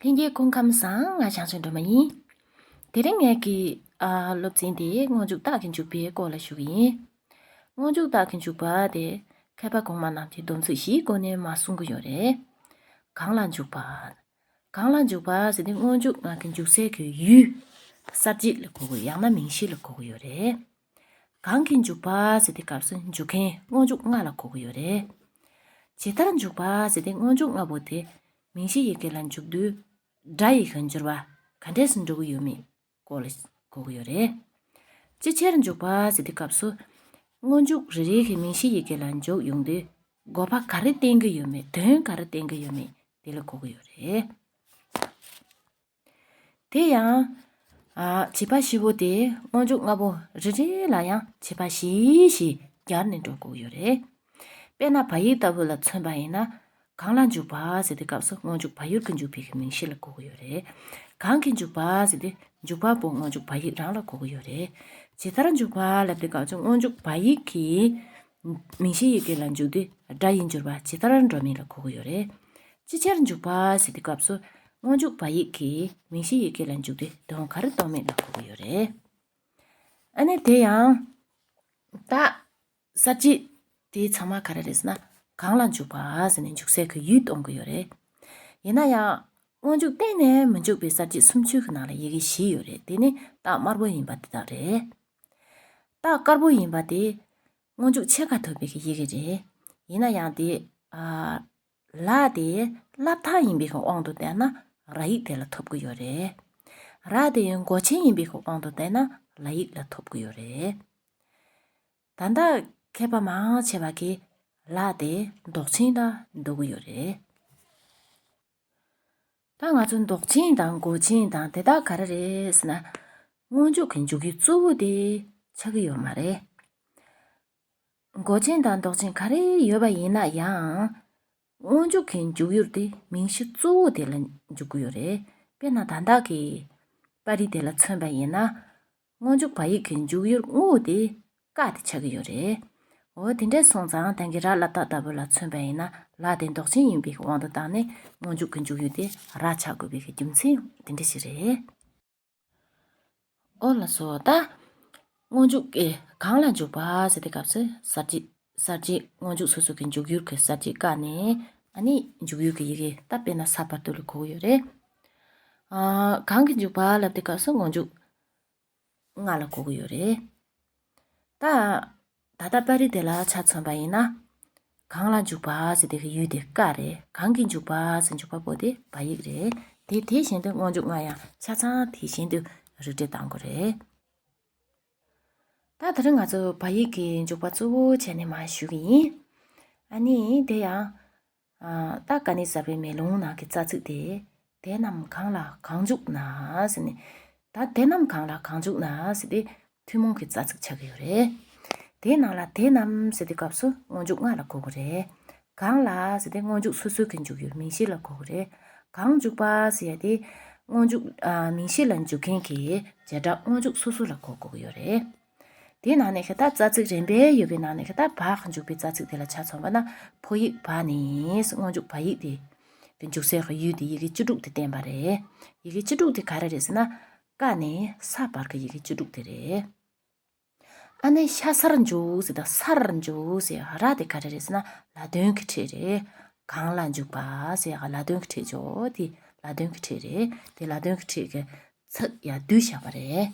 ལྷན་སྐྱེས་སྐུ་ཁམས་བཟང་ང་བྱང་ཆུབ་སྒྲོལ་མ་ཡིན། དེ་རིང་ངེད་ཀྱི། སློབ་ཚན་དེ་སྔོན་འཇུག་རྟགས་ཀྱི་འཇུག་པའི་སྐོར་ལ་ཞུ་གི་ཡིན། སྔོན་འཇུག་རྟགས་ཀྱི་འཇུག་པ་དེ། མཁས་པ་གོང་མ་རྣམས་ཀྱིས་སྡོམ་ཚིག་བཞིའི་སྒོ་ནས་མ་གསུང་གི་ཡོད་རེད། གང་ལ་འཇུག་པ། གང་ལ་འཇུག་པ་ཟེར་དུས་སྔོན་འཇུག་ངག་གི་འཇུག་སའི་གོའི་ཡུལ། གསར་བརྗེ་ལ་གོ་དགོས་ཡང་ན་མིང་གཞི་ལ་གོ་དགོས་ཡོད་རེད། གང་གིས་འཇུག་པ་ཟེར་ཏེ་སྐབས་སུ་འཇུག་མཁན་སྔོན་འཇུག་ལྔ་ལ་གོ་གི་ཡོད་རེད། ཇི་ལྟར་འཇུག་པ་ཟེར་ཏེ་སྔོན་འཇུག་ལྔ་པོ་དེ་མིང་གཞི་ཡི་གེ་ལ་འཇུག་དུས་སྒྲ་ཡི་གེ་འགྱུར་བ་ག་འདྲས་སུ་འགྲོ་གི་ཡོད་མེད་སྐོར་ལ་གོ་གི་ཡོད་རེད། ཅི་ཕྱིར་འཇུག་པ་ཟེར་ཏེ་སྐབས་སུ་སྔོན་འཇུག་རེ་རེ་གིས་མིང་གཞི་ཡི་གེ་ལ་འཇུག་ཡོང་དུས་དགོས་པ་ག་རེ་བསྟན་གི་ཡོད་མེད་དོན་ག་རེ་བསྟན་གི་ཡོད་མེད་དེ་ལ་གོ་གི་ཡོད་རེད། དེ་ཡང། བྱིས་པ་བཞི་བོ་དེ་སྔོན་འཇུག་ལྔ་བོ་རེ་རེ་ལ་ཡང་བྱིས་པ་བཞི་ཞེས་སྦྱར་ནས་འགྲོ་དགོས་ཡོད་རེད། དཔེར་ན་བ་ཡིག་ལྟ་བུ་ལ་མཚོན་པ་ཡིན་ན། གང་ལ་འཇུག་བ་ཟེར་ཏེ་སྐབས་སུ་སྔོན་འཇུག་བ་ཡུར་གྱི་འཇུག་བེད་ཀྱི་མིང་གཞི་ལ་གོ་གི་ཡོད་རེད། གང་གིས་འཇུག་བ་ཟེར་ཏེ་འཇུག་བ་པོ་སྔོན་འཇུག་བ་ཡིག་རང་ལ་གོ་གི་ཡོད་རེད། ཇི་ལྟར་འཇུག་བ་ལབ་སྟེ་སྐབས་སུ་སྔོན་འཇུག་བ་ཡིག་གི་མིང་གཞི་ཡི་གེ་ལ་འཇུག་དུས་སྒྲ་ཡི་འགྱུར་བ་ཇི་ལྟར་འགྲོ་མིན་ལ་གོ་གི་ཡོད་རེད། ཅི་ཕྱིར་འཇུག་པ་ཟེར་དུས་སྐབས་སུ་སྔོན་འཇུག་བ་ཡིག་གིས་མིང་གཞི་ཡི་གེ་ལ་འཇུག་དུས་དོན་ག་རེ་གཏོང་མིན་ལ་གོ་གི་ཡོད་རེད། ཨ་ནི་དེ་ཡང་ད་གསར་བརྗེ་དེའི་ཚང་མ་ག་རེ་རེད་ཟེར་ན་གང་ལ་འཇུག་པ་ཟེར་ནས་འཇུག་སའི་གི་ཡུལ་གཏོང་གི་ཡོད་རེད། ཡིན་ན་ཡང་སྔོན་འཇུག་གཏན་ནས་མི་འཇུག་པའི་གསར་བརྗེ་སུམ་ཅུ་གི་ནང་ལ་ཡི་གེ་བཞི་ཡོད་རེད་དེ་ནི་རྟགས་དམར་པོ་ཡིན་པ་འདི་དག་རེད། རྟགས་དཀར་པོ་ཡིན་པ་དེ་སྔོན་འཇུག་ཕྱེད་ཀ་ཐུབ་པའི་གི་ཡི་གེ་རེད། ཡིན་ན་ཡང་དེ། ལ་དེ་བསླབ་ཐང་ཡིན་པའི་གི་དབང་དུ་བལྟས་ན་ར་ཡིག་དེ་ལ་ཐོབ་གི་ཡོད་རེད། ར་དེ་མགོ་ཆེན་ཡིན་པའི་གི་དབང་དུ་བལྟས་ན་ལ་ཡིག་ལ་ཐོབ་གི་ཡོད་རེད། ད་ལྟ་མཁས་པ་མང་ཆེ་བ་གིས་ལ་དེ་འདོགས་ཆེན་ལ་འདོགས་གི་ཡོད་རེད། ད་ང་ཚོ་མདོག་ཅན་དང་མགོ་ཅན་དང་དེ་དག་ག་རེ་རེད་ཟེར་ན། སྔོན་འཇུག་གི་འཇུག་ཡུལ་གཙོ་བོ་དེ་ཆགས་ཀྱི་ཡོད་མ་རེད། མགོ་ཅན་དང་མདོག་ཅན་ག་རེ་ཡོད་པ་ཡིན་ན་ཡང། སྔོན་འཇུག་གི་འཇུག་ཡུལ་དེ་མིང་གཞི་གཙོ་བོ་དེ་ལ་འཇུག་གི་ཡོད་རེད། དཔེར་ན་དང་བདག་གི། པར་རིས་དེ་ལ་མཚོན་པ་ཡིན་ན། སྔོན་འཇུག་བ་ཡིག་གི་འཇུག་ཡུལ་དངོས་བོ་དེ་བཀག་སྟེ་ཆགས་ཀྱི་ཡོད་རེད། འོ་དེ་འདྲས་སོང་ཙང་དེང་གི་རྀ་ལ་ཏ྄་ལྟ་བུ་ལ་མཚོན་པ་ཡིན་ན་ལྀ་དེ་འདོགས་ཆེན་ཡིན་པའི་དབང་དུ་བཏང་ནས་སྔོན་འཇུག་གི་འཇུག་ཡུལ་དེ་རྀ་ཆགས་དགོས་པའི་རྒྱུ་མཚན་དེ་འདྲ་ཞིག་རེད། ཨོ་ལ་སོ་ད། སྔོན་འཇུག་གིས་གང་ལ་འཇུག་པ་ཟེར་ཏེ་སྐབས་སུ་གསར་བརྗེ། གསར་བརྗེའི་སྔོན་འཇུག་སོ་སོ་གི་འཇུག་ཡུལ་གྱི་གསར་བརྗེ་བཀག་ནས་ཨ་ནི་འཇུག་ཡུལ་གྱི་ཡི་གེ་ད་དཔེ་ན་ས་པར་དུ་ལ་གོ་གི་ཡོད་རེད། གང་གི་འཇུག་པ་ལབ་དེ་སྐབས་སུ་སྔོན་འཇུག་ལྔ་ལ་གོ་གི་ཡོད་རེད། ད་ད་ལྟ་པར་རིས་དེ་ལ་ཆ་མཚོན་པ་ཡིན་ན། གང་ལ་འཇུག་པ་ཟེར་དེ་གི་ཡུལ་དེ་ཀ་རེད་གང་གི་འཇུག་པ་ཟེར་འཇུག་པ་པོ་དེ་བ་ཡིག་རེད་དེ་དེ་བཞིན་དུ་སྔོན་འཇུག་ལྔ་ཡང་ཆ་ཚང་དེ་བཞིན་དུ་རིགས་འགྲེ་གཏང་དགོས་རེད། ད་དེ་རིང་ང་ཚོ་བ་ཡིག་གི་འཇུག་པ་གཙོ་བོ་བྱས་ནས་མར་ཞུས་ཀྱི་ཡིན། ཨ་ནི་དེ་ཡང། སྟག་ག་ནི་ཟ་བའི་མེ་ལོང་ནང་གི་རྩ་ཚིག་དེ། དེ་རྣམས་གང་ལ་གང་འཇུག་ན་ཟེར་ནས། ད་དེ་རྣམས་གང་ལ་གང་འཇུག་ན་ཟེར་ཏེ་ཐུན་མོང་གི་རྩ་ཚིག་ཆགས་ཀྱི་ཡོད་རེད། དེའི་ནང་ལ་དེ་རྣམས་ཟེར་ཏེ་སྐབས་སུ་སྔོན་འཇུག་ལྔ་ལ་གོ་གི་རེད། གང་ལ་ཟེར་ཏེ་སྔོན་འཇུག་སོ་སོ་གི་འཇུག་ཡུལ་མིང་གཞི་ལ་གོ་དགོས་རེད། གང་འཇུག་པ་ཟེར་ཡ་དེ། སྔོན་འཇུག་མིང་གཞི་ལ་འཇུག་མཁན་གྱི་བྱེ་བྲག་སྔོན་འཇུག་སོ་སོ་ལ་གོ་དགོས་ཀྱི་ཡོད་རེད། དེའི་ནང་ནས་ཤ་སྟག་རྩ་ཚིག་རན་པས་ཡོད་པའི་ནང་ནས་ཤ་སྟག་བག་འཇུག་པའི་རྩ་ཚིག་དེ་ལ་ཆ་མཚོན་པ་ན་ཕོ་ཡིག་བག་ནི་སྔོན་འཇུག་བག་ཡིག་དེ། དེ་འཇུག་སའི་ཡུལ་དེ་ཡི་གེ་བཅུ་དྲུག་དེ་བསྟན་པ་རེད། ཡི་གེ་བཅུ་དྲུག་དེ་ག་རེ་རེད་ཟེར་ན། ཀ་ནི་ས་བར་གྱི་ཡི་གེ་བཅུ་དྲུག་དེ་རེད། ཨ་ནེ་ཤ་སར་འཇུག་ཟེར་དང་སར་འཇུག་ཟེར་ཡང་ར་དེ་ག་རེ་རེད་ཟེར་ན་ལ་དོན་གྱི་ཁྲིད་རེད། གང་ལ་འཇུག་པ་ཟེར་ཡང་ལ་དོན་གྱི་ཁྲིད་འཇོག་དེ་ལ་དོན་གྱི་ཁྲིད་རེད་དེ་ལ་དོན་གྱི་ཁྲིད་ཀྱི་ཚིག་ཡང་བསྡུས་བཞག་པ་རེད།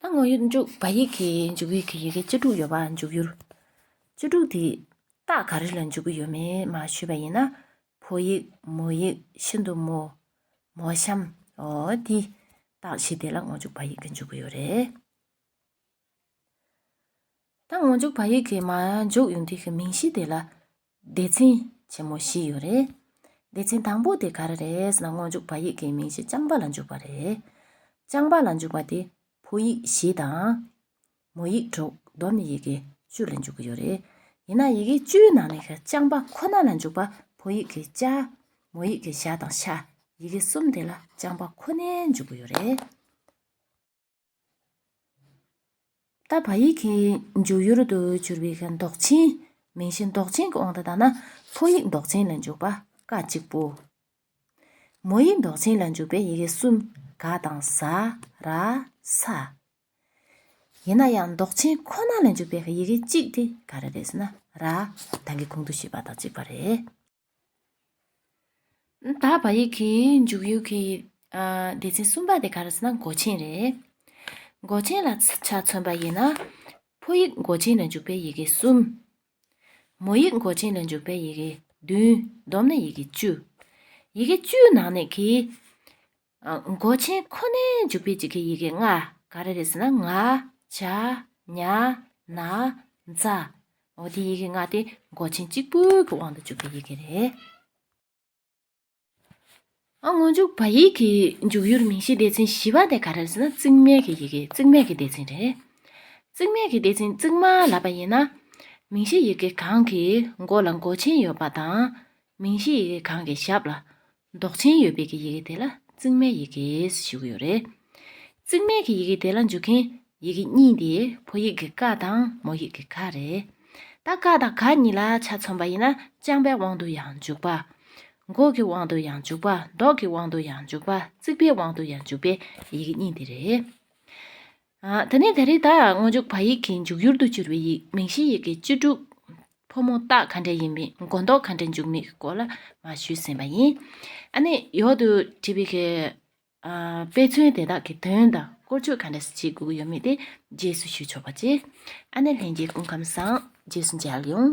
ད་ངོ་ཡོད་འཇུག་པ་ཡིག་གི་འཇུག་ཡིག་གི་ཡི་གེ་བཅུ་དྲུག་ཡོད་པ་འཇུག་ཡུལ་བཅུ་དྲུག་དེ་རྟགས་ག་རེ་ལ་འཇུག་གི་ཡོད་མེད་མ་ཤོད་པ་ཡིན་ན་ཕོ་ཡིག་མོ་ཡིག་ཤིན་ཏུ་མོ། མོ་གཤམ། འོ། འདི། རྟགས་ཕྱི་དེ་ལ་ངོ་འཇུག་བ་ཡིག་གི་འཇུག་གི་ཡོད་རེད། ད་ངོ་འཇུག་བ་ཡིག་གི་མ་འཇུག་ཡུལ་འདི་གི་མིང་གཞི་དེ་ལ། སྡེ་ཚན། ཆེན་མོ་བཞི་ཡོད་རེད། སྡེ་ཚན་དང་པོ་དེ་ག་རེ་རེད་ཟེར་ན་ངོ་འཇུག་བ་ཡིག་གི་མིང་གཞི་རྐྱང་པ་ལ་འཇུག་པ་རེད། རྐྱང་པ་ལ་འཇུག་པ་དེ་ཕོ་ཡིག་བཞི་དང། མོ་ཡིག་དྲུག་མདོར་ནི་ཡི་གེ་བཅུ་ལ་འཇུག་གི་ཡོད་རེད། ཡིན་ནའང་ཡི་གེ་བཅུའི་ནང་ནས་རྐྱང་པ་ཁོ་ན་ལ་འཇུག་པ་ཕོ་ཡིག་གི་ལྕ། མོ་ཡིག་གི་ཞྭ་དང་ཤ། ཡི་གེ་གསུམ་དེ་ལ་རྐྱང་པ་ཁོ་ནའི་འཇུག་གི་ཡོད་རེད། ད་བ་ཡིག་གི་འཇུག་ཡུལ་དུ་གྱུར་པའི་མདོག་ཅན། མིང་གཞི་མདོག་ཅན་གྱི་དབང་དུ་བཏང་ན་ཕོ་ཡིག་མདོག་ཅན་ལ་འཇུག་པ་ཀ་གཅིག་པོ། མོ་ཡིག་མདོག་ཅན་ལ་འཇུག་པའི་ཡི་གེ་གསུམ་ག་དང་ཟ། ར། ས། ཡིན་ན་ཡང་འདོགས་ཆེན་ཁོ་ན་ལས་འཇུག་པའི་ཡི་གེ་གཅིག་དེ་ག་རེ་རེད་ཟེར་ན། ར། དང་གི་གུང་དུ་ཞེས་པ་དང་གཅིག་པ་རེད། ད་བ་ཡིག་གི་འཇུག་ཡུལ་གྱི་སྡེ་ཚན་གསུམ་པ་དེ་ག་རེ་ཟེར་ན་མགོ་ཆེན་རེད། མགོ་ཆེན་ལ་ཆ་མཚོན་པ་ཡིན་ན། ཕོ་ཡིག་མགོ་ཆེན་ལས་འཇུག་པའི་ཡི་གེ་གསུམ། མོ་ཡིག་མགོ་ཆེན་ལས་འཇུག་པའི་ཡི་གེ་བདུན་བསྡོམས་ན་ཡི་གེ་བཅུ། ཡི་གེ་བཅུའི་ནང་ནས་གི། མགོ་ཆེན་ཁོ་ནའི་འཇུག་པའི་འཇིག་གི་ཡི་གེ་ལྔ་ག་རེ་རེད་ཟེར་ན་ང། བྱ། ཉ། ན། ཛ། འོ་དེ་ཡི་གེ་ལྔ་དེ་མགོ་ཆེན་གཅིག་པུའི་གི་དབང་དུ་འཇུག་པའི་ཡི་གེ་རེད། སྔོན་འཇུག་བ་ཡིག་གི་འཇུག་ཡུལ་མིང་གཞིའི་སྡེ་ཚན་བཞི་བ་དེ་ག་རེ་རེད་ཟེར་ན་རྩིག་མེད་ཀྱི་ཡི་གེ་རྩིག་མེད་ཀྱི་སྡེ་ཚན་རེད། རྩིག་མེད་ཀྱི་སྡེ་ཚན་རྩིག་མ་ལབ་པ་ཡིན་ན། མིང་གཞིའི་ཡི་གེ་གང་གི་མགོ་ལ་མགོ་ཆེན་ཡོད་པ་དང། མིང་གཞིའི་ཡི་གེ་གང་གི་ཞབས་ལ་མདོག་ཅན་ཡོད་པའི་གི་ཡི་གེ་དེ་ལ་རྩིག་མའི་ཡི་གེས་ཞུ་གི་ཡོད་རེད། རྩིག་མའི་གི་ཡི་གེ་དེ་ལ་འཇུག་མཁན་ཡི་གེ་གཉིས་དེ་ཕོ་ཡིག་གི་ཀ་དང་མོ་ཡིག་གི་ཁ་རེད། ད་ཀ་དང་ག་གཉིས་ལ་ཆ་མཚོན་པ་ཡིན་ན་རྐྱང་པའི་དབང་དུ་ཡང་འཇུག་པ། མགོ་གི་དབང་དུ་ཡང་འཇུག་པ་མདོག་གི་དབང་དུ་ཡང་འཇུག་པ་རྩིག་པའི་དབང་དུ་ཡང་འཇུག་པའི་ཡི་གེ་གཉིས་དེ་རེད། ད་ནི་ད་རེས་དག་སྔོན་འཇུག་བ་ཡིག་གི་འཇུག་ཡུལ་དུ་གྱུར་བའི་ཡིག་མིང་གཞི་ཡི་གེ་བཅུ་དྲུག། ཕོ་མོ་རྟགས་ག་འདྲ་ཡིན་མིན་མགོ་འདོགས་ག་འདྲའི་འཇུག་མིན་གྱི་སྐོར་ལ་མ་ཞུས་ཟིན་པ་ཡིན། ཨ་ནི་ཡོད་དུ་བྲིས་པའི་གི། དཔེ་མཚོན་དེ་དག་གི་དོན་དང་བཀོལ་སྤྱོད་ག་འདྲ་བྱེད་དགོས་ཀྱི་ཡོད་མེད་དེ་རྗེས་སུ་ཞུས་ཆོག་པ་བྱས། ཨ་ནི་ལྷན་རྒྱས་སྐུ་ཁམས་བཟང་རྗེས་སུ་མཇལ་ཡོང།